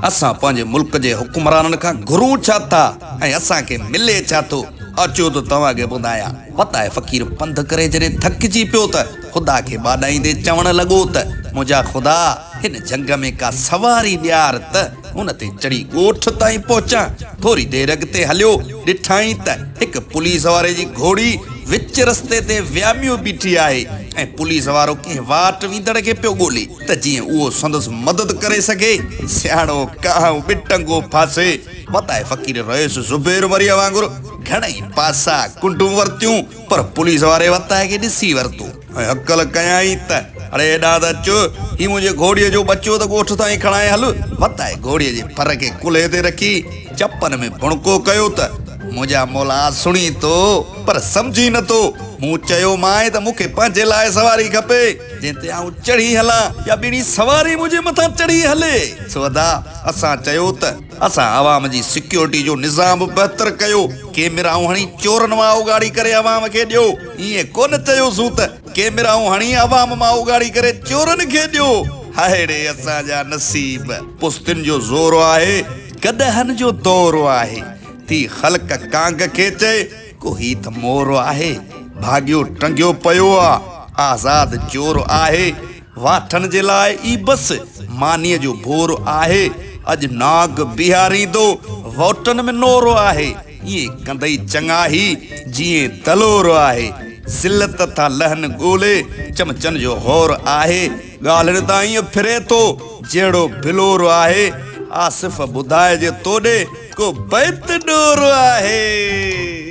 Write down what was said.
اسان پنهنجي ملڪ جي حڪمرانن کان گهرون ڇا ٿا ۽ اسان کي ملي ڇا ٿو؟ اچو ته توهان کي ٻڌايان. فتح فقير پنڌ ڪري جڏهن ٿڪجي پيو ته خدا کي ٻاڏائيندي چوڻ لڳو ته منهنجا خدا! هن جهنگ ۾ ڪا سواري ڏيار ته ان تي چڙهي ڳوٺ تائين پهچان. ٿوري دير اڳتي هليو، ڏٺائين ته هڪ پوليس واري جي گهوڙي وچ رستي تي وياميو بيٺي آهي ۽ پوليس وارو ڪنهن واٽ ويندڙ کي پيو ڳولي. ته جيئن اهو سندس مدد ڪري سگهي. سياڻو ڪانء به ٽنگو ڦاسي. وتائي فقير رئيس زبير مريء وانگر گهڻئي پاسا ڪنڊون ورتيون، پر پوليس واري وتائي کي ڏسي ورتو ۽ هڪل ڪيائين ته اڙي هيڏانهن ته اچ، هي منهنجي گهوڙيء جو ٻچو ته ڳوٺ تائين کڻائي هل. وتائي گهوڙيء جي ڦر کي ڪلهي تي رکي، چپن ۾ ڀڻڪو ڪيو ته منهنجا مولا سڻي ٿو، پر سمجهي نه ٿو. مون چيومانء ته مون کي پنهنجي لاء سواري کپي. جنهن تي آئون چڙهي هلان يا ٻيڻي سواري منهنجي مٿان چڙهي هلي. سوڌا اسان چيو ته اسان عوام جي سيڪيورٽي جو نظام به بهتر ڪيو، ڪيميرائون هڻي چورن مان اوڳاڙي ڪري عوام کي ڏيو، ائين ڪونه چيوسون ته ڪيميرائون هڻي عوام مان اوڳاڙي ڪري چورن کي ڏيو. هاهڙي اسان جا نصيب! پستين جو زور آهي، گڏهن جو دور آهي، ٿي خلق ڪانگ کي چئي. ڪو هي ته مور آهي، ڀاڳيو ٽنگيو پيو آ، آزاد چور آهي، واٺن جي لاء ئي بس مانيء جو ڀور آهي، اڄ ناگ بيهاريندو، ووٽن ۾ نور آهي، ائين ڪندئي چڱا هي، جيئن دلور آهي، ذلت ٿا لهن ڳولي، چمچن جو هور آهي، ڳالهين تان ائين ڦري ٿو، جهڙو بلور آهي، آصف ٻڌائجي توڏي، ڪو بيت ڏور آهي.